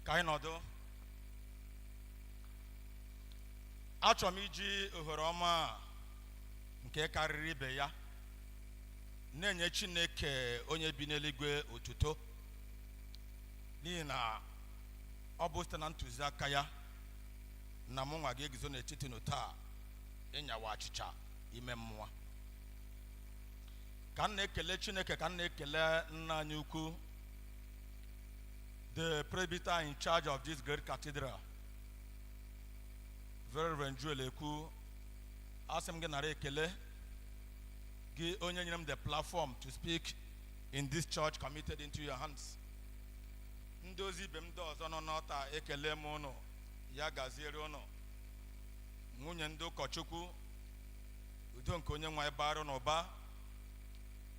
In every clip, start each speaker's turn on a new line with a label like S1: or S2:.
S1: ka anyị nọdụ achọrọ m iji ohere ọma a nke karịrị ibe ya na-enye chineke onye bi n'eluigwe otuto n'ihi na ọ bụ site na ntụziaka ya na mụ nwa ga-eguzo n'etiti unu taa ịnyawa achịcha ime mmụọ ka m na-ekele chineke ka m na-ekele nna anyị ukwu the presbyter in charge of this great cathedral very reverend Joel ekwu asị m gị nara ekele gị onye nyere m the platform to speak in this church committed into your hands ndị ozi ibe m ndị ọzọ nọ n'ọlta ekele m ụnụ ya gaziere ụnụ nwunye ndị ụkọchukwu udo nke onye nwe anyị baara unu ụba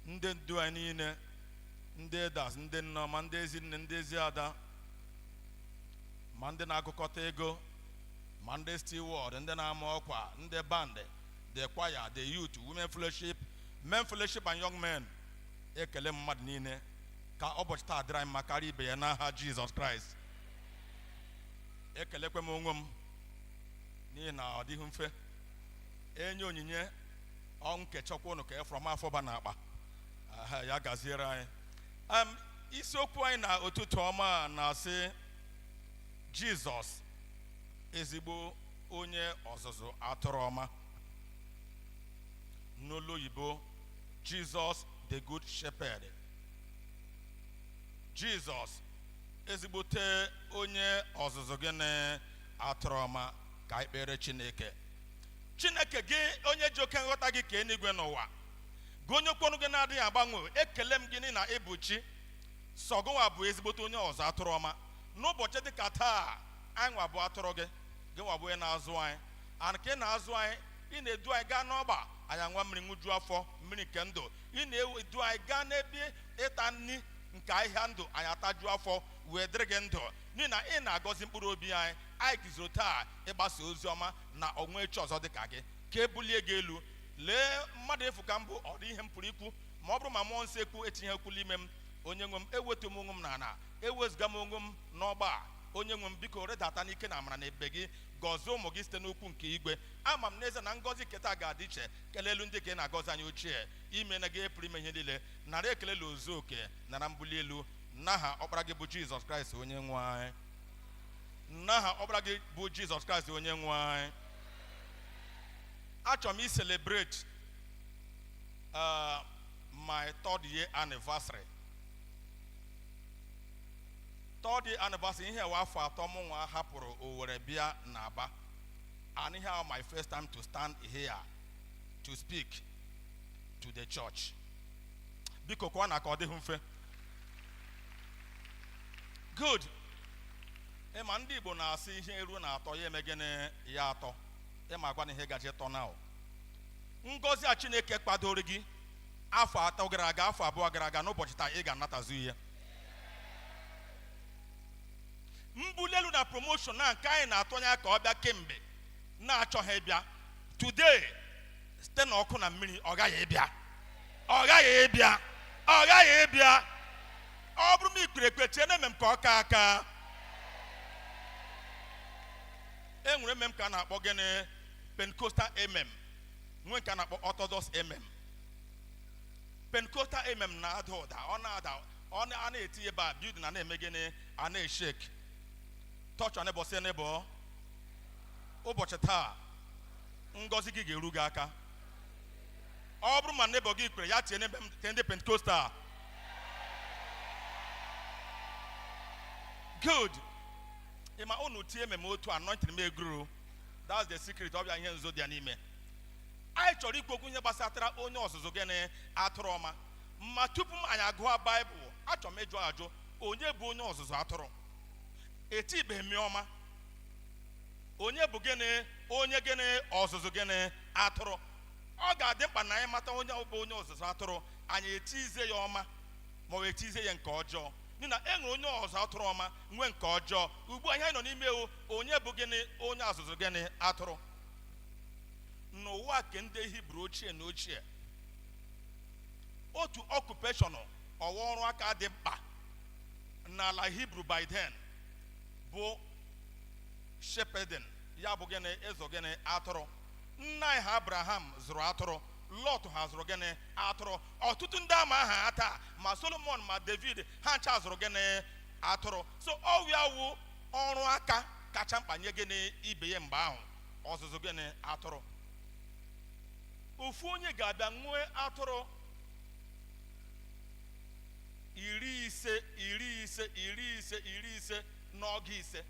S1: ndị ndu anyị niile ndị elders ndị nneọma ndị ezi nne ndị ezi ada ma ndị na-agụkọta ego ma ndị steward ndị na-ama ọkwa ndị band the choir the youth women fellowship men fellowship and young men ekele m mmadụ niile ka ụbọchị taa dịrị anyị mma karịa ibe ya n'aha jizọs kraịst ekelekwe m onwe m n'ihi na ọ dịghị mfe enye onyinye ọnwụ nkechakwa ụnụ ka efrọm afọba na akpa aha ya gaziere anyị Em, isiokwu anyị n'ụtụtụ ọma a na-asị jizọs ezigbo onye ọzụzụ atụrụ ọma n'olu oyibo jizọs the good shepherd jizọs ezigbote onye ọzụzụ gịnị atụrụ ọma ka anyị kpere chineke chineke gị onye ji oke nghọta gị kee eluigwe na ụwa gị onye okwu ọnụ gị na-adịghị agbanwe ekele m gị n'ihi na ị bụ chi sọ gị nwa bụ ezigbote onye ọzụ atụrụ ọma n'ụbọchị dị ka taa anyị nwa bụ atụrụ gị gị nwa bụ onye na-azụ anyị and ka ị na-azụ anyị ị na-edu anyị gaa n'ọgba anyị aṅụa mmiri ṅụju afọ mmiri nke ndụ ị na-edu anyị gaa n'ebe ịta nri nke ahịhịa ndụ anyị atajuo afọ wee dịrị gị ndụ n'ihi na ị na-agọzi mkpụrụ obi anyị anyị guzoro taa ịgbasa ozi ọma na o nweghị chi ọzọ dị ka gị ka e bulie gị elu lee mmadụ efu ka m bụ ọ dị ihe m pụrụ ikwu ma ọ bụrụ ma mmụọ nsọ ekwu etinyeghị okwu n'ime m onye nwe m ewetuo m onwe m n'ala ewezuga m onwe m n'ọgba a onye nwe m biko rịdata n'ike na amara na ebere gị gọzie ụmụ gị site n'okwu nke igwe ama m n'ezie na ngọzi nketa ga-adị iche kelee elu ndị ka ị na-agọzi anyị ochie ime na gị pụrụ ime ihe niile nara ekele la ozu oke nara mbuli elu n'aha ọkpara gị bụ jizọs kraịst onye nwe anyị n'aha ọkpara gị bụ jizọs kraịst onye nwe anyị achọrọ m iselebrate uh, my third year anniversary third year anniversary ihe a wụ afọ atọ mụ nwa hapụrụ Owerri bịa n'Aba and ihe a wụ my first time to stand here to speak to the church biko kụanụ aka ọ dịghị mfe good ịma ndị igbo na-asị ihe eruo na atọ ya eme gịnị ya atọ ịma agwa na ihe ga-eji tọ na ọ wụ ngọzi a chineke kpadoro gị afọ atọ gara aga afọ abụọ gara aga n'ụbọchị taa ị ga-anatazu ihe mbuli elu na promotion nke anyị na-atụ anya ka ọ bịa kemgbe na-achọghị ịbịa today site na ọkụ na mmiri ọ ghaghị ịbịa ọ ghaghị ịbịa ọ ghaghị ịbịa ọ bụrụ ma i kwere ekwe tienụ amen ka ọ kaa aka e nwere amen ka a na-akpọ gịnị pentecostal amen nwee nke a na-akpọ orthodox amen pentecostal amen na-ada ụda ọ na-ada ọ na- a na-eti ebe a building na-eme gịnị a na-eshek touch neighbor sị neighbor ụbọchị taa ngọzi gị ga-eru gị aka ọ bụrụ ma neighbor gị kwere ya tie amen nke ndị pentecostal good ị ma unu tie amen otu a anointing m egrow that's the secret ọ bụ ya ihe nzuzo dị ya n'ime anyị chọrọ ikwu okwu ihe gbasatara onye ọzụzụ gịnị atụrụ ọma ma tupu ma anyị agụọ baịbụl achọrọ m ịjụ ajụ onye bụ onye ọzụzụ atụrụ etibeghị m ya ọma onye bụ gịnị onye gịnị ọzụzụ gịnị atụrụ ọ ga-adị mkpa na anyị mata onye ọ bụ onye ọzụzụ atụrụ anyị etizie ya ọma ma ọ wụ etizie ya nke ọjọọ n'ihi na e nwere onye ọzụ atụrụ ọma nwee nke ọjọọ ugbu a ihe anyị nọ n'ime ya wụ onye bụ gịnị onye ọzụzụ gịnị atụrụ n'ụwa nke ndị hibru ochie na ochie otu occupation ọ wụ ọrụ aka dị mkpa n'ala hibru by then bụ shepherding ya bụ gịnị ịzụ gịnị atụrụ nna anyị ha abraham zụrụ atụrụ lọt ha zụrụ gịnị atụrụ ọtụtụ ndị a ma aha ha taa ma solomon ma david ha ncha zụrụ gịnị atụrụ so ọ wụ ya wụ ọrụ aka kacha mkpa nye gịnị ibe ya mgbe ahụ ọzụzụ gịnị atụrụ ofu onye ga-abịa nwee atụrụ iri ise iri ise iri ise iri ise n'ọgụ ise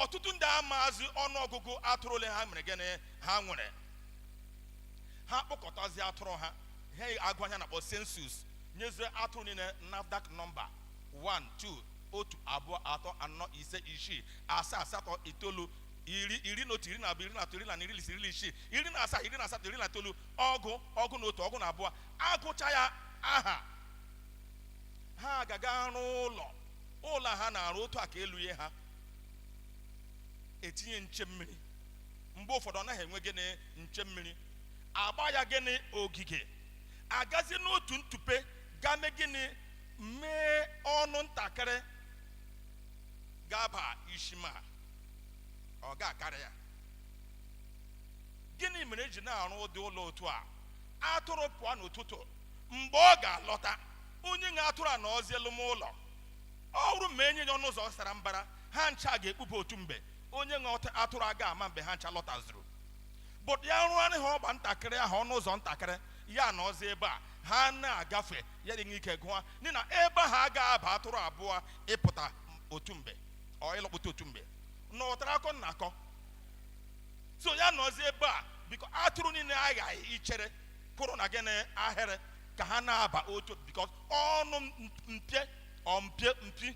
S1: ọtụtụ ndị amaazị ọnụọgụgụ atụrụ ole ha mere gịnị ha nwere ha kpọkọtazi atụrụ ha ha agụa ihe a na-akpọ sensus nyezie atụrụ niile nafdac nọmba 1 2 otu abụọ atọ anọ ise isii asaa asatọ itoolu iri iri na otu iri na abụọ iri na atọ iri na iri iri isii iri na asaa iri na asatọ iri na itoolu ọgụ ọgụ na otu ọgụ na abụọ agụcha ya aha ha agaga arụ ụlọ ụlọ ha na-arụ otu a ka elu ihe ha etinye nche mmiri mgbe ụfọdụ ọ naghị enwe gịnị nche mmiri agba ya gịnị ogige agazi n'otu ntụpe gaa mee gịnị mee ọnụ ntakịrị ga-aba ishi ma ọ ga-akarị ya gịnị mere eji na-arụ ụdị ụlọ otu a atụrụ pụọ n'ụtụtụ mgbe ọ ga-alọta onye nwe atụrụ anọzie l'ime ụlọ ọ bụrụ ma enye ya ọnụ ụzọ sara mbara ha ncha ga-ekpube otu mgbe onye nwe ọt- atụrụ aga ama mgbe ha ncha lọtazuru but ya rụọrị ha ọgba ntakịrị ahụ ọnụ ụzọ ntakịrị ya anọzie ebe a ha na-agafe ya dị ike gụọ n'ihi na ebe ahụ aga aba atụrụ abụọ ịpụta otu mgbe or ịlọkpụta otu mgbe nụtara akọ m na-akọ so ya anọzi ebe a bikos atụrụ niile aghaghị ichere kwụrụ na gịnị ahịrị ka ha na-aba otu bikos ọnụ m- mpio mpie mpi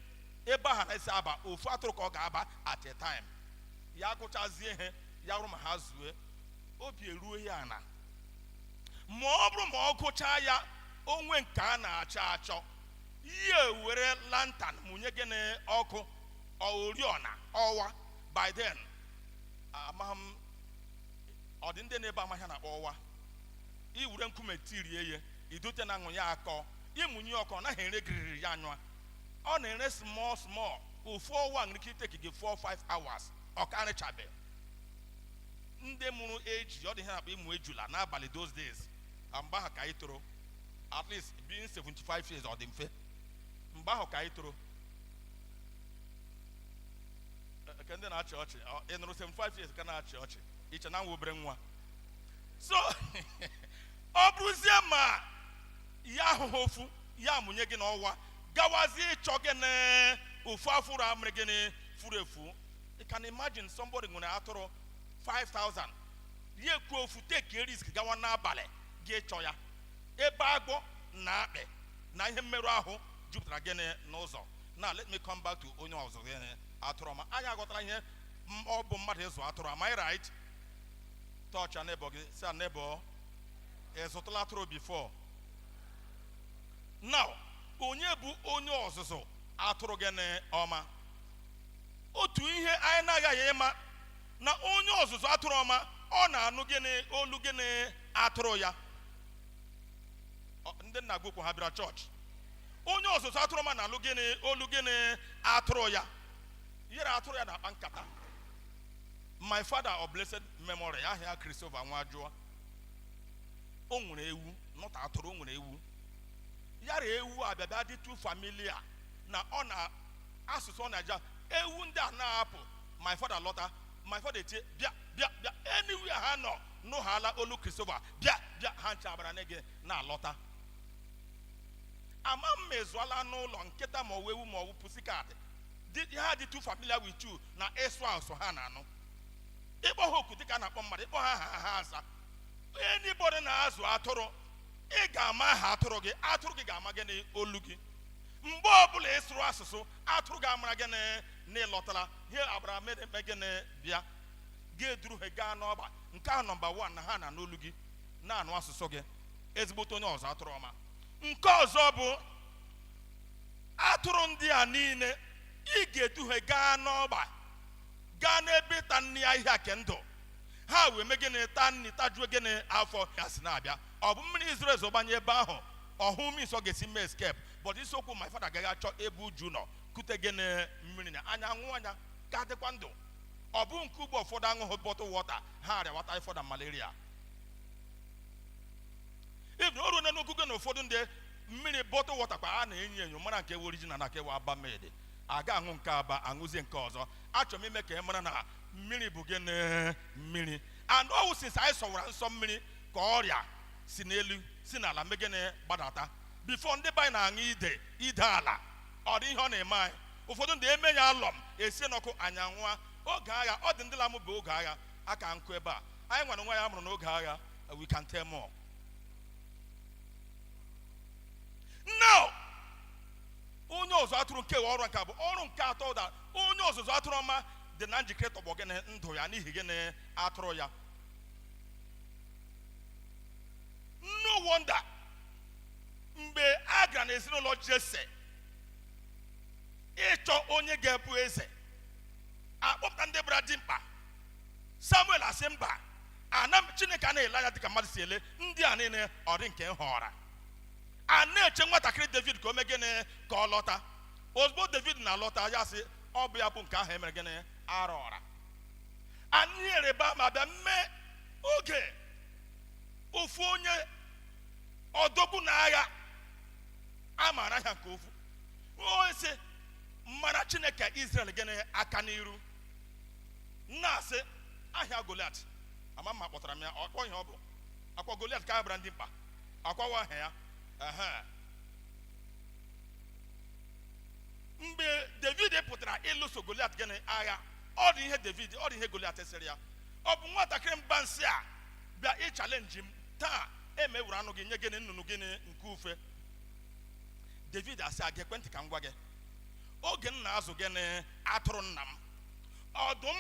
S1: ebe ahụ a na-esi aba ofu atụrụ ka ọ ga-aba at a time ya gụchazie ihe ya ọ bụrụ ma ha zue obi eruo ya ana ma ọ bụrụ ma ọ gụchaa ya o nwee nke a na-achọ achọ ya ewere lantan mụnye gịnị ọkụ or oriọna ọwa by then amaghị m ọ dị ndị nọ ebe a ma ihe a na-akpọ ọwa i were nkume tirie ya i dote n'anwụ ya akọọ ị mụnye ọkụ ọ naghị ere giriri ya anyụa ọ na-ere small small ofu ọwa nwere ike iteki gị 4 5 hours ọ karịchabe ndị mụrụ iji ụdị ihe a na-akpa ịmụ ejula n'abalị those days na mgbe ahụ ka anyị toro at least being 75 years ọ dị mfe mgbe ahụ ka anyị toro nke ndị na-achị ọchị ọ- ị nụrụ 75 years ka na-achị ọchị i che na m wụ obere nwa so ọ bụrụzie ma ya ahụghị ofu ya amụnye gịnị ọwa gawazie ịchọ gịnị ofu atụrụ a mere gịnị furu efu you can imagine somebody nwere atụrụ 5000 ya ekwu ofu take risk gawa n'abalị ga ịchọ ya ebe agwọ na akpị na ihe mmerụ ahụ jupụtara gịnị n'ụzọ now let me come back to onye ọzụ gịnị atụrụ ọma anyị aghọtara ihe m- ọ bụ mmadụ ịzụ atụrụ am I right touch your neighbor gị say neighbor ị zụtụla atụrụ before now onye bụ onye ọzụzụ atụrụ gịnị ọma otu ihe anyị na-aghaghị ịma na onye ọzụzụ atụrụ ọma ọ na-anụ gịnị olu gịnị atụrụ ya ndị nna gị ukwu ha bịara chọọchị onye ọzụzụ atụrụ ọma na-anụ olu gịnị atụrụ ya yara atụrụ ya na-akpa nkata my father of blessed memory aha ya Christopher Nwajụọ o nwere ewu not atụrụ o nwere ewu yara ewu abịabịa dị too familiar na ọ na asụsụ ọ na-aja ewu ndị a na-apụ my father alọta my father etie bịa bịa bịa anywhere ha nọ nụhala olu Christopher bịa bịa ha ncha agbara na gị na-alọta ama m ma ị zụọla n'ụlọ nkịta ma ọ wụ ewu ma ọ wụ pussycat Dị- ha dị too familiar with you na ị sụọ asụsụ ha na-anụ ị kpọọ ha oku dịka a na-akpọ mmadụ ị kpọọ ha aha ha aza anybody na-azụ atụrụ ị ga-ama aha atụrụ gị atụrụ gị ga-ama gị n'olu gị mgbe ọbụla ị sụrụ asụsụ atụrụ ga-amara gị na- na ị lọtala ha agbara mee mee gịnị bịa gị eduru ha gaa n'ọgba nke ahụ number one na ha na-anụ olu gị na-anụ asụsụ gị ezigbote onye ọzụ atụrụ ọma nke ọzọ bụ atụrụ ndị a niile ị ga-edu he gaa n'ọgba gaa n'ebe ịta nri ahịhịa nke ndụ ha wee mee gịnị taa nri tajuo gịnị afọ ya si na-abịa ọ bụ mmiri zoro ezo gbanye ebe ahụ ọ hụ means ọ ga-esi mee escape but isiokwu my father agaha achọ ebe uju nọ kute gịnị mmiri na anyị aṅụọ anyị ka dịkwa ndụ ọ bụ nke ugbu a ụfọdụ aṅụghị bottle water ha arịawa typhoid malaria even o ruona n'ogogo na ụfọdụ ndị mmiri bottle water kwa a na-enyo enyo mara nke original na nke Aba made a ga-aṅụ nke Aba aṅụzie nke ọzọ achọrọ m ime ka ị mara na mmiri bụ gịnị mmiri and ọ wụ since anyị sọwara nsọ mmiri ka ọrịa si n'elu si n'ala mee gịnị gbadata before ndị be anyị na-aṅụ ide ide ala ọ dị ihe ọ na-eme anyị ụfọdụ ndị eme ya alum esie n'ọkụ anyị aṅụọ oge agha ọ dị ndị lamụ bụ oge agha a ka nkụ ebe a anyị nwere nwa ya mụrụ n'oge agha we can tell more now onye ọzụ atụrụ nke ọrụ nke abụọ ọrụ nke atọ that onye ọzụzụ atụrụ ọma dị na njikere ịtọgbọ gịnị ndụ ya n'ihi gịnị atụrụ ya no wonder mgbe a gara n'ezinụlọ Jesse ịchọ onye ga-abụ eze a kpọpụta ndị gbara dimkpa Samuel asị mba ana m chineke a na-ele anya dịka mmadụ si ele ndị a niile ọ dị nke m họọra a na-eche nwatakịrị david ka o mee gịnị ka ọ lọta ozugbo david na-alọta ya sị ọ bụ ya bụ nke ahụ e mere gịnị a rọọra anyị ereba ma bịa mee oge ofu onye odogwu n'agha a maara aha ya nke ofu o si mara chineke israel gịnị aka n'iru m na-asị aha ya goliat ama m ma kpọtara m ya akwa ihe ọ bụ akwa goliat ka a bara ndị mkpa akwa wụ aha ya ehe mgbe david pụtara ịlụso goliat gịnị agha ọ dị ihe david ọ dị ihe goliat sịrị ya ọ bụ nwatakịrị mba nsị a bịa ịchalenji m taa m ewere anụ gị nye gịnị nnụnụ gịnị nke ufe david asị a geekwa ntị ka m gwa gị oge m na-azụ gịnị atụrụ nna m ọdụm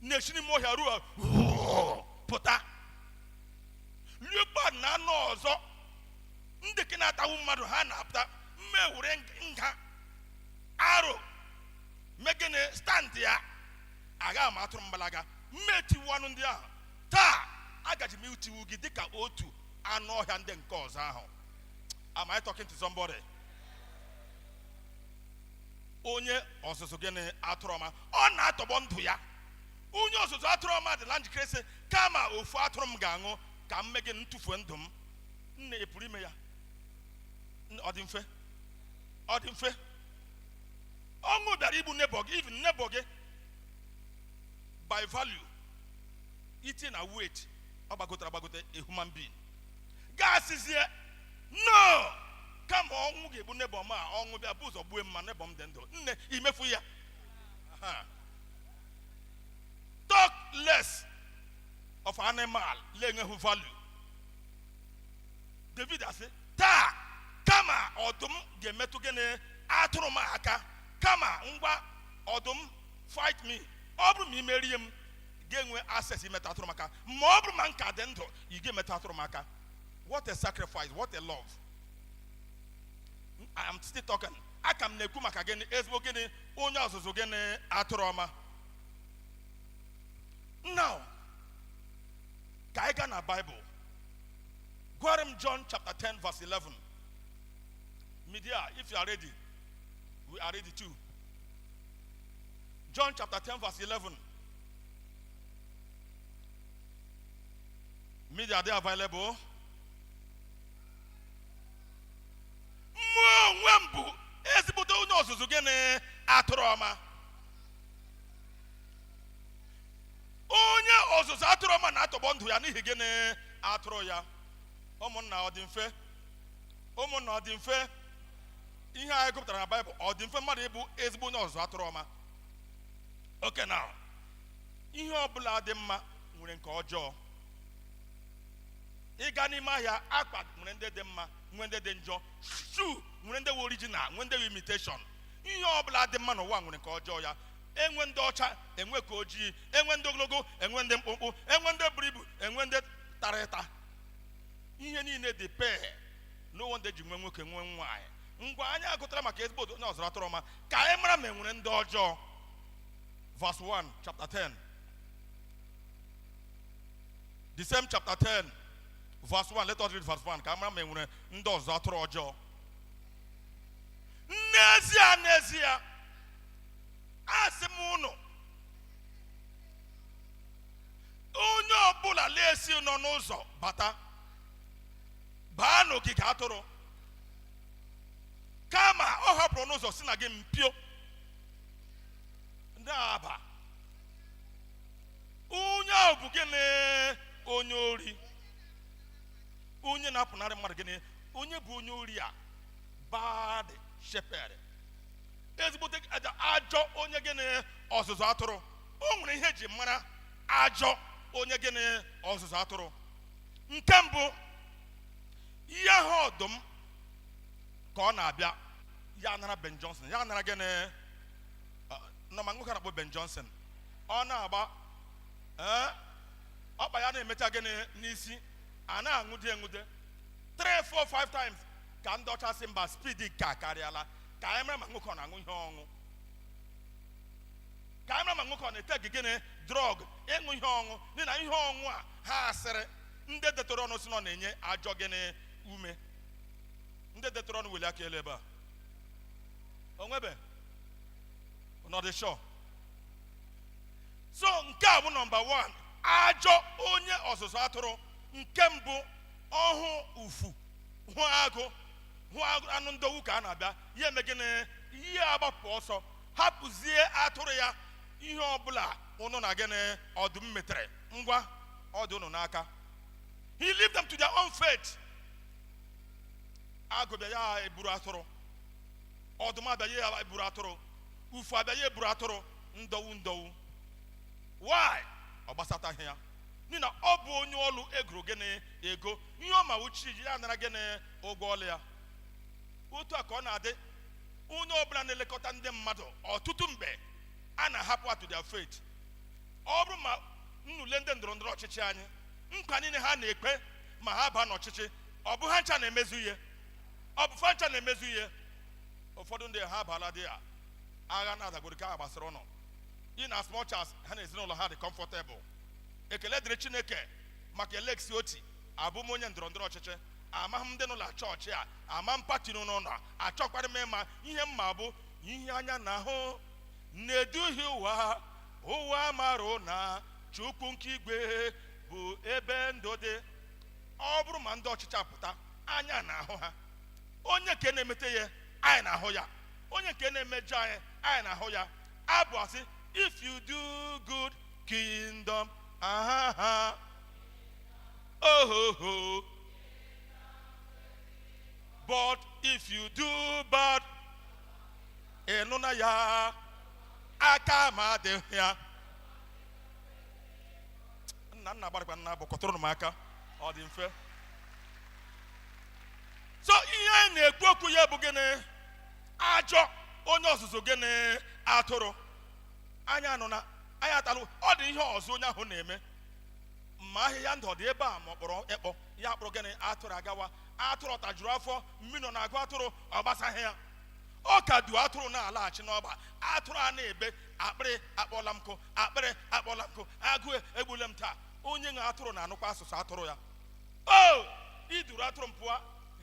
S1: na-esi n'ime ọhịa ruo pụta leopard na anụ ọzọ ndị nke na-atagbu mmadụ ha na-apụta m ewere nga aro mee gịnị stand ya agha ma atụrụ m gbalaga m etiwu anụ ndị ahụ taa agaji m itiwu gị dịka otu anụ ọhịa ndị nke ọzọ ahụ am I talking to somebody? onye ọzụzụ gịnị atụrụ ọma ọ na-atọgbọ ndụ ya onye ọzụzụ atụrụ ọma dịla njikere sị kama ofu atụrụ m ga-anwụ ka m mee gịnị tụfuo ndụ m nne ị pụrụ ime ya ọ dị mfe ọ dị mfe ọnwụ bịara igbu nebọ gị even nebọ gị by value iti na weight ọ gbagotara agbagote a human being ga-asịzie no kama ọnwụ ga-egbu nebọ m a ọnwụ bịa bụ ụzọ gbue m ma nebọ m dị ndụ nne i mefu ya Aha. talk less of animal na-enweghị value david asị taa kama ọdụm ga-emetụ gịnị atụrụ m aka kama m gwa ọdụm fight me ọ bụrụ ma i merie m ị ga-enwe access imeta atụrụ m aka ma ọ bụrụ ma m ka dị ndụ ị ga-emetụ atụrụ m aka what a sacrifice what a love I am still talking aka m na-ekwu maka gịnị ezigbo gịnị onye ọzụzụ gịnị atụrụ ọma now ka anyị gaa na Bible gụara m John chapter 10 verse 11 media if you are ready we are ready too John chapter 10 verse 11 Media dị available. Mụ onwe m bụ ezigbote onye ọzụzụ gịnị atụrụ ọma. Onye ọzụzụ atụrụ ọma na-atọgbọ ndụ ya n'ihi gịnị atụrụ ya. Ụmụnna ọ dị mfe. Ụmụnna ọ dị mfe. Ihe anyị gụpụtara na Baịbụl ọ dị mfe mmadụ ịbụ ezigbo onye ọzụzụ atụrụ ọma. Okay now. ihe ọbụla dị mma nwere nke ọjọọ ị gaa n'ime ahịa akwa nwere ndị dị mma nwee ndị dị njọ shoe nwere ndị original nwee ndị imitation ihe ọbụla dị mma n'ụwa nwere nke ọjọọ ya enwe ndị ọcha enwe ka ojii enwe ndị ogologo enwe ndị mkpụmkpụ enwe ndị buru ibu enwe ndị tara ịta ihe niile dị pair n'ụwa ndị ji nwee nwoke nwee nwaanyị ngwa anyị agụtara maka ezigbo onye ọzụzụ atụrụ ọma ka anyị mara ma enwere ndị ọjọọ verse 1, chapter 10. The same chapter 10, verse 1. Let us read verse 1. Ka a mara ma enwere ndị ọzụzụ atụrụ ọjọọ. N'ezie, n'ezie, asị m unu, onye ọbụla na-esighị n'ọnụ ụzọ bata, baa n'ogige atụrụ, kama ọ hapụrụ ọnụ ụzọ si na gịnị mpio. aba onye ahụ bụ gịnị onye ori onye na-apụnarị mmadụ gịnị onye bụ onye ori a bad shepherd ezigbote aja- ajọ onye gịnị ọzụzụ atụrụ o nwere ihe eji mara ajọ onye gịnị ọzụzụ atụrụ nke mbụ ya hụ ọdụm ka ọ na-abịa ya anara Ben Johnson ya anara gịnị unu ma nwoke a na-akpọ Ben Johnson ọ na-agba ee ọkpa ya na-emecha gịnị n'isi a na-aṅụde eṅụde 3 4 5 times ka ndị ọcha sị mba speed nke a karịala ka anyị mara ma nwoke ọ na-aṅụ ihe ọṅụ ka anyị mara ma nwoke ọ na-etake gịnị drug ịṅụ ihe ọṅụ n'ihi na ihe ọṅụ a ha sịrị ndị detụrụ ọnụ sị na ọ na-enye ajọ gịnị ume ndị detụrụ ọnụ weli aka elu ebe a onwebe nọdịshọ so nke a bụ number 1 ajọ onye ọzụzụ atụrụ nke mbụ ọ hụ ufu hụ agụ hụ agụ- anụ ndọgbu ka ha na-abịa ya eme gịnị ya agbapụ ọsọ hapụzie atụrụ ya ihe ọbụla unu na gịnị ọdụm metere ngwa ọ dị unu n'aka he leave them to their own fate agụ bịa ya eburu atụrụ ọdụm abịa ya eburu atụrụ ufu abịa ya eburu atụrụ ndọwu ndọwu why ọ gbasataghị ya n'ihi na ọ bụ onye ọlụ e goro gịnị ego ihe ọ ma wụ chi jie ya anara gịnị ụgwọ ọlụ ya otu a ka ọ na-adị onye ọbụla na-elekọta ndị mmadụ ọtụtụ mgbe a na-ahapụ ha to their fate ọ bụrụ ma unu lee ndị ndọrọ ndọrọ ọchịchị anyị nkwa niile ha na-ekwe ma ha baa n'ọchịchị ọ bụ ha ncha na-emezu ihe ọ bụ fa ncha na-emezu ihe ụfọdụ ndị ha abaala dị ya agha na-adagoro nke ahụ gbasara unu in as much as ha na ezinụlọ ha dị comfortable ekele dịrị chineke maka alex otti abụ m onye ndọrọ ndọrọ ọchịchị amaghị m ndị n'ụlọ chọọchị a ama m party unu nọ achọkwara m ịma ihe m ma bụ ihe anya na-ahụ na-eduhie ụwa ụwa mara na chukwu nke igwe bụ ebe ndụ dị ọ bụrụ ma ndị ọchịchị apụta anya na-ahụ ha onye nke na-emete ya anyị na-ahụ ya onye nke na-emejọ anyị anyị na-ahụ ya abụ a sị if you do good kingdom aha ha ohoho but if you do bad ị nụna ya aka m adịghị ya nna nna gbarịkwa nna bụ kụtụrụnụ m aka ọ dị mfe so ihe anyị na-ekwu okwu ya bụ gịnị ajọ onye ọzụzụ gịnị atụrụ anyị anụna anyị atalụ ọ dị ihe ọzọ onye ahụ na-eme ma ahịhịa ndụ ọ dị ebe a ma ọ kpọrọ ekpọ ya kpọrọ gịnị atụrụ agawa atụrụ ọ tajuru afọ mmiri nọ na-agụ atụrụ ọ gbasaghị ya ọ ka du atụrụ na-alaghachi n'ọgba atụrụ a na-ebe akpịrị akpọla m nkụ akpịrị akpọla m nkụ agụụ egbule m taa onye nwe atụrụ na-anụkwa asụsụ atụrụ ya o i duru atụrụ m pụọ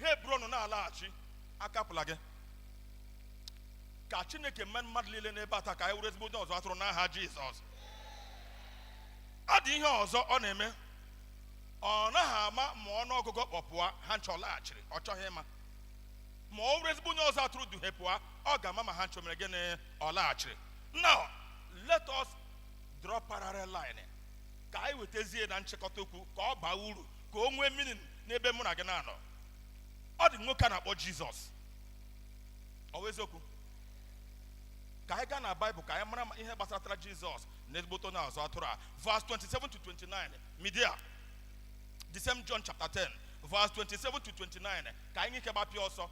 S1: ha eburu ọnụ na-alaghachi akapụla gị ka chineke mee mmadụ niile n'ebe a taa ka anyị wụrụ ezigbo onye ọzụ atụrụ n'aha jizọs ọ dị ihe ọzọ ọ na-eme ọ naghị ama ma ọnụ ọgụgụ kpọpụa ha ncha ọ laghachiri ọ chọghị ịma ma ọ wụrụ ezigbo onye ọzụ atụrụ du ha pụọ ọ ga-ama ma ha ncha o mere gịnị ọ laghachiri now let us draw parallel line ka anyị wetazie na nchịkọta okwu ka ọ baa uru ka o nwee meaning n'ebe mụ na gị na-anọ ọ dị nwoke a na-akpọ jizọs ọ bụ eziokwu ka anyị gaa na baịbụl ka anyị mara ma ihe gbasatara jizọs na ezigbote onye ọzụ atụrụ a verse 27 to 29 media the same john chapter 10 verse 27 to 29 ka anyị nwee ike gbapịa ọsọ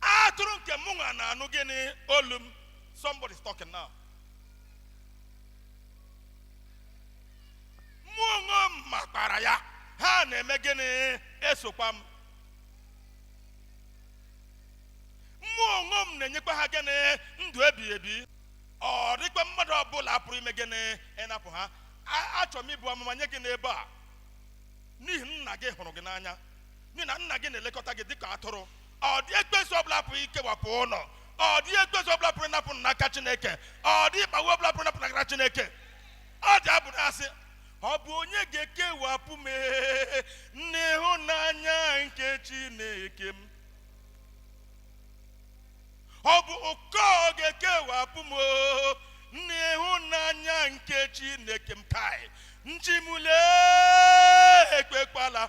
S1: atụrụ nke mụ nwa na-anụ gịnị olu m somebody is talking now mụ onwe m makwara ya ha na-eme gịnị esokwa m mụ onwe m na-enyekwa ha gịnị ndụ ebighị ebi ọ dịghịkwa mmadụ ọbụla pụrụ ime gịnị ịnapụ ha A- achọrọ m ibu amụma nye gị n'ebe a n'ihi nna gị hụrụ gị n'anya n'ihi na nna gị na-elekọta gị dịka atụrụ ọ dịghị ekwensu ọbụla pụrụ ikewapụ unu ọ dịghị ekwensu ọbụla pụrụ ịnapụ n'aka chineke ọ dịghị mkpagbu ọbụla pụrụ ịnapụ n'aka chineke ọ dị abụ na-asị ọ bụ onye ga-ekewapụ m ee, n'ịhụnanya nke chineke m ọ bụ ụkọ ga-ekewapụ m oo, n'ịhụnanya nke chineke m kai chi m lee ekwekwala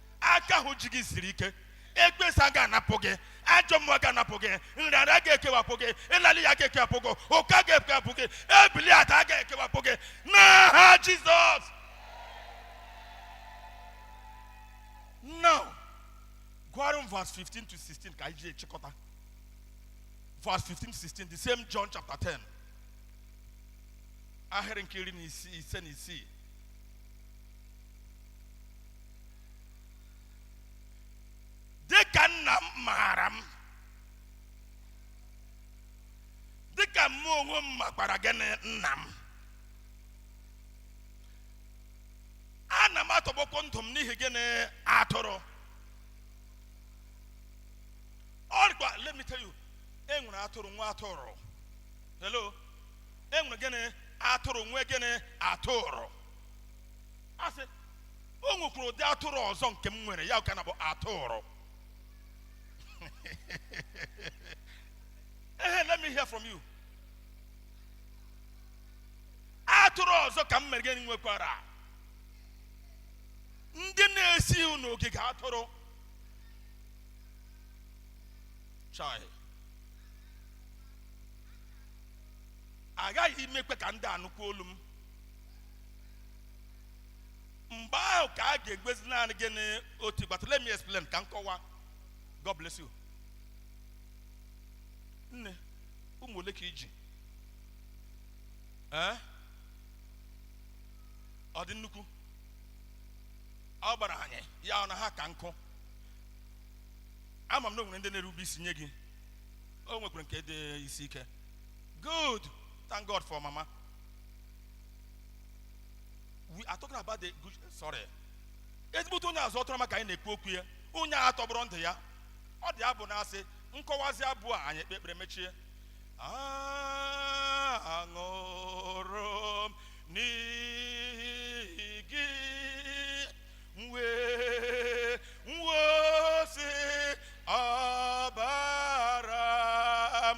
S1: aka ahụ ji gị siri ike ekwensu agaghị anapụ gị ajọ mmụọ agaghị anapụ gị nrịanrịa agaghị ekewapụ gị ịla n'iyi agaghị ekewapụ gị ụkọ agaghị ekewapụ gị ebili ada agaghị ekewapụ gị n'aha jizọs now gụọrọ m verse 15 to 16 ka anyị ji achịkọta verse 15 to 16 the same john chapter 10 ahịrị nke iri na ise na isii dị ka nna m maara m dị ka mụ onwe m makwara gịnị nna m ana m atọgbọkwa ndụ m n'ihi gịnị atụrụ ọ dịkwa let me tell you e nwere atụrụ nwe atụrụ hello e nwere gịnị atụrụ nwe gịnị atụrụ asị o nwekwara ụdị atụrụ ọzọ nke m nwere ya ka na-abụ atụrụ ehe let me hear from you atụrụ ọzọ ka m mere gịnị nwekwara ndị na-esighị n'ogige atụrụ chai aghaghị m imekwa ka ndị a nụkwuo olu m mgbe ahụ ka a ga-enwezi naanị gịnị otu igwe atụrụ let me explain ka m kọwa god bless you nne ụmụ ole ka i ji ee ọ dị nnukwu ọ gbara anyị ya ọ na ha ka nkụ ama m na o nwere ndị na-erube isi nye gị o nwekwara nke dị isi ike good thank god for mama we are talking about the good sorry ezigbote onye ọzụ atụrụ ọma ka anyị na-ekwu okwu ya onye a tọgbọrọ ndụ ya ọ dị abụ na-asị m kọwazie abụ a anyị ekpe ekpere emechie anwụrụ m n'ihi gị m wee wụsị ọbara m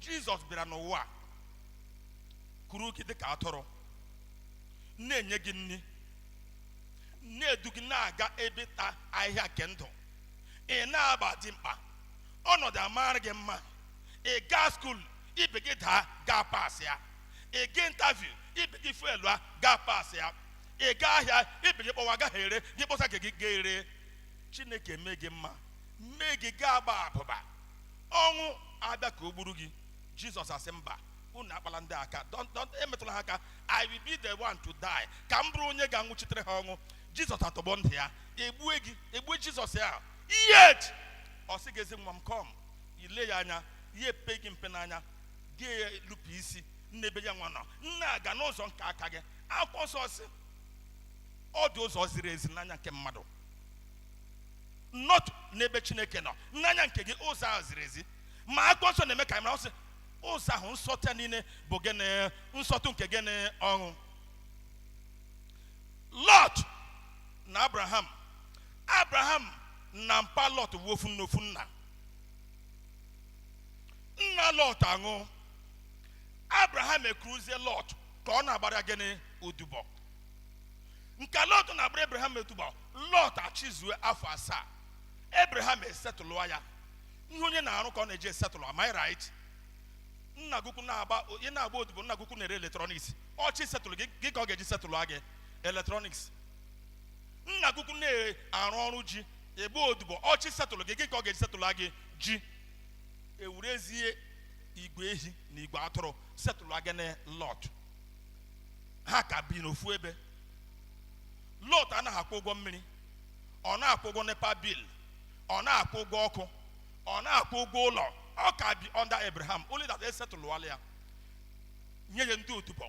S1: jizọs bịara n'ụwa a, kuru gị dịka atụrụ na-enye gị nri na-edu gị na-aga ebe ịta ahịhịa nke ndụ ị na-agba dimkpa ọnọdụ amara gị mma ị gaa skuul ibe gị daa gị apasịa ị gaa intaviu ibe gị feelụa gị apasịa ị gaa ahịa ibe gị kpọwa ọ gaghị ere gị kpọsa nke gị gị ere chineke mee gị mma mee gị gị agba abụba ọnwụ abịa ka o gburu gị jizọs asị mba unu akpala ndị aka don't don't emetụla ha aka i will be the one to die ka m bụrụ onye ga-anwụchitere ha ọnwụ jizọs atọgbọ ndụ ya egbue gị egbue jizọs ya yet ọ sị gị ezi nwa m come i lee ya anya ya epe gị mpe n'anya gị elupụ isi n'ebe ya nwa nọ na-aga n'ụzọ nke aka gị akwụkwọ nsọ sị ọ dị ụzọ ziri ezi n'anya nke mmadụ not n'ebe chineke nọ n'anya nke gị ụzọ ahụ ziri ezi ma akwụkwọ nsọ na-eme ka anyị mara ọ sị ụzọ ahụ nsọtụ ya niile bụ gịnị nsọtụ nke gịnị ọnwụ lọt na abraham abraham na mpa lọt bụ ofu nne ofu nna nna lọt anwụọ abraham ekuruzie lọt ka ọ na-agbara gịnị odibo nke lọt na-agbara ebraham odibo lọt achịzue afọ asaa ebraham esetụlụ ya ihe onye na-arụ ka ọ na-eji esetụlụ am I right nna gị ukwu na-agba ị na-agba odibo nna gị ukwu na-ere eletrọniks ọ chọọ isetụlụ gị gịnị ka ọ ga-eji setụlụ gị eletrọniks nna gị ukwu na-arụ ọrụ ji ị gba odibo ọ chọọ isetụlụ gị gịnị ka ọ ga-eji setụlụ gị ji ewerezie igwe ehi na igwe atụrụ setụlụ gịnị lọt ha ka bi n'ofu ebe lọt anaghị akwụ ụgwọ mmiri ọ naghị akwụ ụgwọ nepa bil ọ naghị akwụ ụgwọ ọkụ ọ naghị akwụ ụgwọ ụlọ ọ ka bi under abraham only that esetụlụwala ya nye ya ndị odibo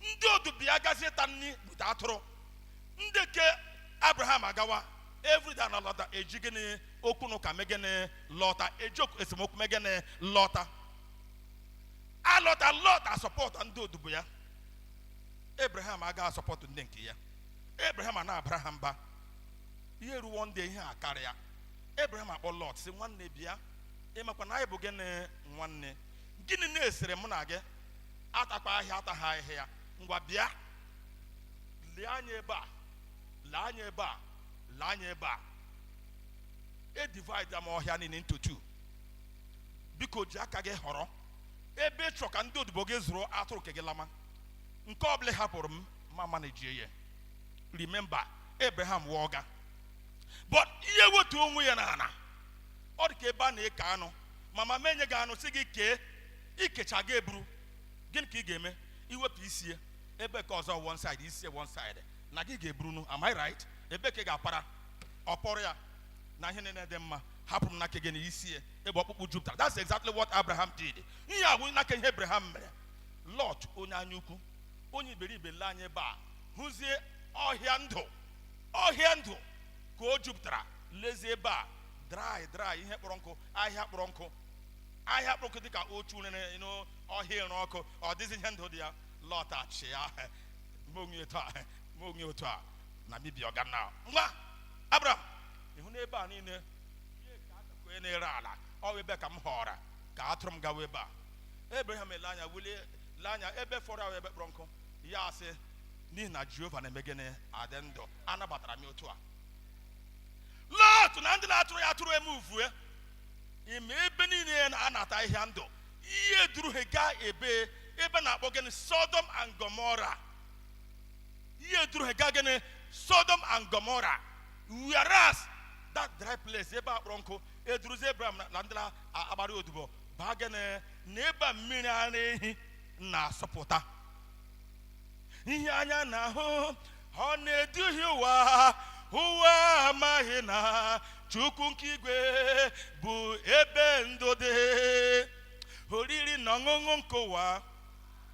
S1: ndị odibo ya gazie ịta nri bute atụrụ ndị ke abraham agawa everyday na-alọta eji gịnị okwu na ụka mee gịnị lọta eji okwu- esemokwu mee gịnị lọta alọta lot asọpọtụ ndị odibo ya abraham agaghị asọpọtụ ndị nke ya abraham ana-abara ha mba ihe ruwo ndị ihe akarịa abraham akpọọ lot sị nwanne bịa ị makwa na anyị bụ gịnị nwanne gịnị na-esere mụ na gị atakwa ahịhịa ataghị ahịhịa ngwa bịa lee anya ebe a lee anya ebe a lee anya ebe a e divide m ọhịa niile into two biko ji aka gị họrọ ebe ị chọ ka ndị odibo gị zụrụ atụrụ nke gị lama nke ọbụla ị hapụrụ m ma manejie ya remember abraham wụ ọga but ya ewetu onwe ya na ana ọ dị ka ebe a na-eke anụ ma mama enye gị anụ sị gị kee ị kechaa gị eburu gịnị ka ị ga-eme i wepụ isi ya ebe ka ọzọ one side isi ya one side na gị ga-eburunu am I right ebe ka ị ga-apara okporo ya na ihe niile dị mma hapụ m n'aka gị na isi ya ebe ọkpụkpụ jupụtara that's exactly what abraham did ihe a bụ n'aka ihe abraham mere lot onye anya ukwu onye iberibe lee anya ebe a hụzie ọhịa ndụ ọhịa ndụ ka o jupụtara lezie ebe a dry dry ihe kpọrọ nkụ ahịhịa kpọrọ nkụ ahịhịa kpọrọ nkụ dịka ọkụ rere n'ọhịa ịrụ ọkụ ọ dịghịzi ihe ndụ dị ya lot achị ya ma onye otu a na bibi ọga na nwa abraham ị hụ n'ebe a niile onye na-ere ala ọ wụ ebe ka m họọrọ ka atụrụ m gawa ebe a abraham ele anya wulie lee anya ebe fọrọ ahụ ebe kpọrọ nkụ ya asị n'ihi na jehova na-eme gịnị adị ndụ anabatara m otu a lot na ndị na-azụrụ ya atụrụ emuvue ime ebe niile a na-ata ahịhịa ndụ ihe duru ha gaa ebe ebe a na-akpọ gịnị sodom and gomorrah ihe duru ha gaa gịnị sodom and gomorrah whereas that dry place ebe a kpọrọ nkụ eduruzi abraham na- na ndị na-agbara ya odibo baa gịnị na ebe a mmiri ara ehi na-asọpụta ihe anya na-ahụ ọ na-eduhie ụwa ụwa amaghị na chukwu nke igwe bụ ebe ndụ dị oriri na ọṅụṅụ nke ụwa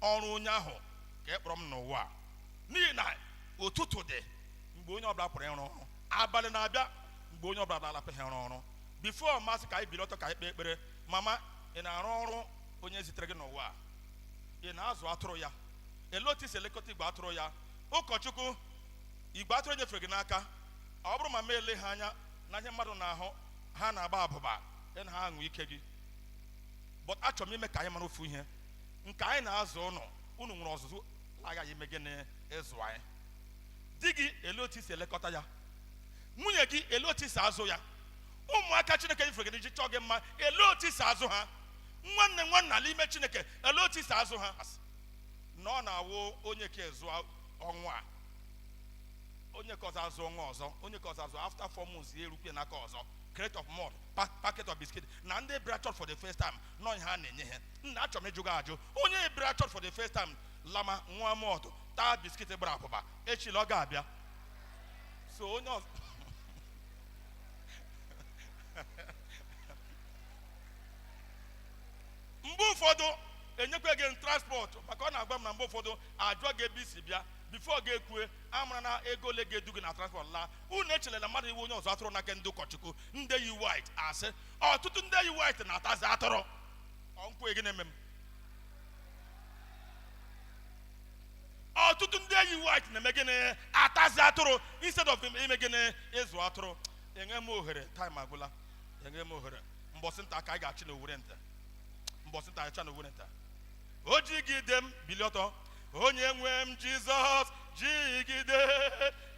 S1: ọrụ onye ahụ ka a kpọrọ m n'ụwa a. n'ihi na ụtụtụ dị mgbe onye ọbụla pụrụ ịrụ ọrụ abalị na-abịa mgbe onye ọbụla na-apụghị ịrụ ọrụ before m asị ka anyị bilie ọtọ ka anyị kpee ekpere mama ị na-arụ ọrụ onye zitere gị n'ụwa a? ị na-azụ atụrụ ya elee otu i si elekọta igwe atụrụ ya ụkọchukwu igwe atụrụ e nyefere gị n'aka ọ bụrụ mama ele ha anya na ihe mmadụ na-ahụ ha na-agba abụba ị na-anwa ike gị but achọrọ m ime ka anyị mara ofu ihe nke anyị na-azụ unu unu nwere ọzụzụ aghaghị ime gịnị ịzụ anyị di gị ele otu i si elekọta ya nwunye gị ele otu i si azụ ya ụmụaka chineke nyere gị iji chọọ gị mma ele otu i si azụ ha nwanne nwanna n'ime chineke ele otu i si azụ ha na ọ na-awụ onye nke a azụ ọnwa a onye nke ọzọ azụ ọnwa ọzọ onye nke ọzọ azụ after four months ya erukwe n'aka ọzọ crate of malt packet of biscuit na ndị bịara church for the first time na ọ ihe a na-enye ha nna achọrọ m ịjụ gị ajụjụ onye bịara church for the first time lama nwa malt taa biscuit gbara abụba i chere ọ ga-abịa sunday ọzọ mgbe ụfọdụ enyekwa gị transport maka ọ na-agwa m na mgbe ụfọdụ ajụọ gị ebe i si bịa before gị ekwue amara na ego ole ga-edu gị na transport laa unu echelela mmadụ ịwụ onye ọzụzụ atụrụ n'aka ndị ụkọchukwu ndị yi white asị ọtụtụ ndị yi white na-atazi atụrụ m kwue gịnị eme m ọtụtụ ndị yi white na-eme gịnị atazi atụrụ instead of ime gịnị ịzụ atụrụ enye m ohere time agwụla enye m ohere mbọsị nta ka anyị ga-achụ n'owere nta mbọsị nta achụ n'owere nta o jigide m bilie ọtọ onye nwe m jizọs jigide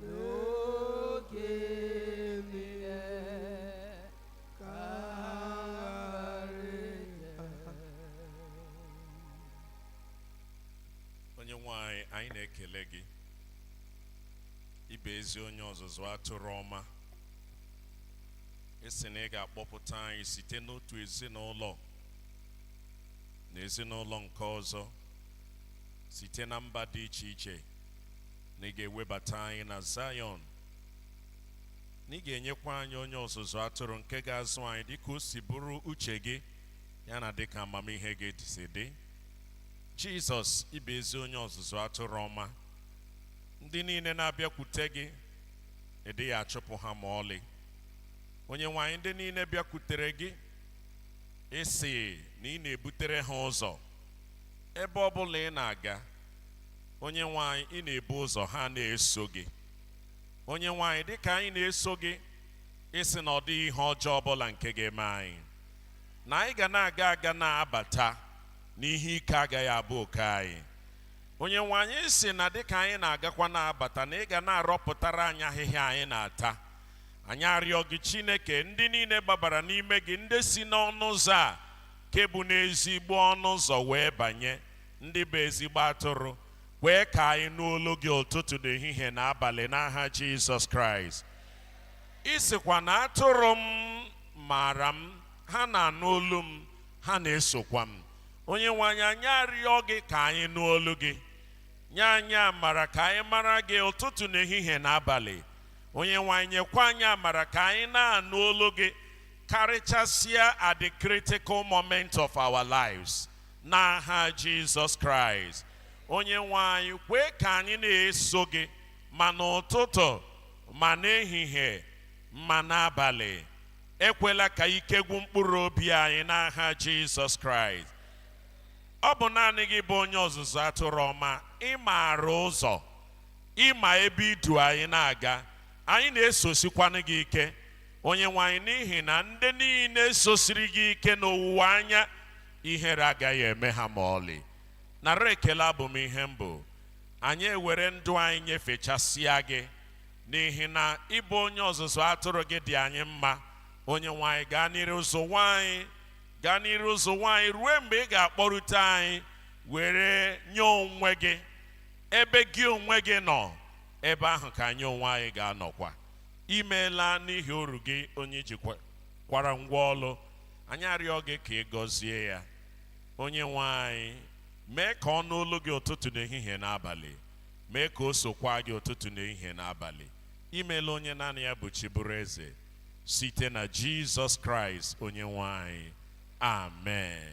S1: n'oge niile ka onye nwe anyị anyị na-ekele gị ị bụ ezi onye ọzụzụ atụrụ ọma ị sị na ị ga-akpọpụta anyị site n'otu ezinụlọ na ezinụlọ nke ọzọ site na mba dị iche iche na ị ga-ewebata anyị na Zayọn na ị ga-enyekwa anyị onye ọzụzụ atụrụ nke ga-azụ anyị dịka o si bụrụ uche gị ya na dịka amamihe gị si dị Jizọs ị bụ ezi onye ọzụzụ atụrụ ọma ndị niile na-abịakwute gị ị dịghị achụpụ ha ma ọlị onye nwe anyị ndị niile bịakwutere gị ị sị na ị na-ebutere ha ụzọ ebe ọ bụla ị na-aga onye nwe anyị ị na-ebu ụzọ ha na-eso gị onye nwe anyị dịka anyị na-eso gị ị sị na ọ dịghị ihe ọjọọ ọbụla nke ga-eme anyị na anyị ga na-aga aga na-abata na ihe ike agaghị abụ oke anyị onye nwe anyị ị sị na dịka anyị na-agakwa na-abata na ị ga na-arọpụtara anyị ahịhịa anyị na-ata anyị arịọ gị chineke ndị niile gbabara n'ime gị ndị si n'ọnụ ụzọ a nke bụ n'ezigbo ọnụ ụzọ wee banye Ndị bụ ezigbo atụrụ, kwee ka anyị nụ olu gị ụtụtụ na ehihie na abalị n'aha Jizọs Kraịst. Ị sịkwa na atụrụ m maara m, ha na-anụ olu m, ha na-esokwa m. Onyenwe anyị, anyị arịọ gị ka anyị nụ olu gị. Nye anyị amara ka anyị mara gị ụtụtụ na ehihie na abalị. Onyenwe anyị, nyekwa anyị amara ka anyị na-anụ olu gị karịchasịa at the critical moment of our lives. n'aha jizọs kraịst onye nwe anyị kwee ka anyị na-eso gị ma n'ụtụtụ ma n'ehihie ma n'abalị ekwela ka ike gwụ mkpụrụ obi anyị n'aha jizọs kraịst ọ bụ naanị gị bụ onye ọzụzụ atụrụ ọma ị maara ụzọ ị ma ebe i du anyị na-aga anyị na-esosikwanụ gị ike onye nwe anyị n'ihi na ndị niile sosiri gị ike n'owuwe anya Ihere agaghị eme ha ma ọlị. Nara ekele abụ m ihe m bụ. Anyị ewere ndụ anyị nyefechasịa gị, n'ihi na ị bụ onye ọzụzụ atụrụ gị dị anyị mma. Onyenwe anyị, gaa n'iru zụwa anyị, gaa n'iru zụwa anyị ruo mgbe ị ga-akpọrute anyị were nye onwe gị. Ebe gị onwe gị nọ, ebe ahụ ka anyị onwe anyị ga-anọkwa. I meela n'ihi oru gị onye i jikwara ngwa ọlụ. anyị arịọ gị ka ị gọzie ya onye nwe anyị mee ka ọ nụ olu gị ụtụtụ na ehihie na abalị mee ka o sokwa gị ụtụtụ na ehihie na abalị i meela onye naanị ya bụ chi bụrụ eze site na jizọs kraịst onye nwe anyị amen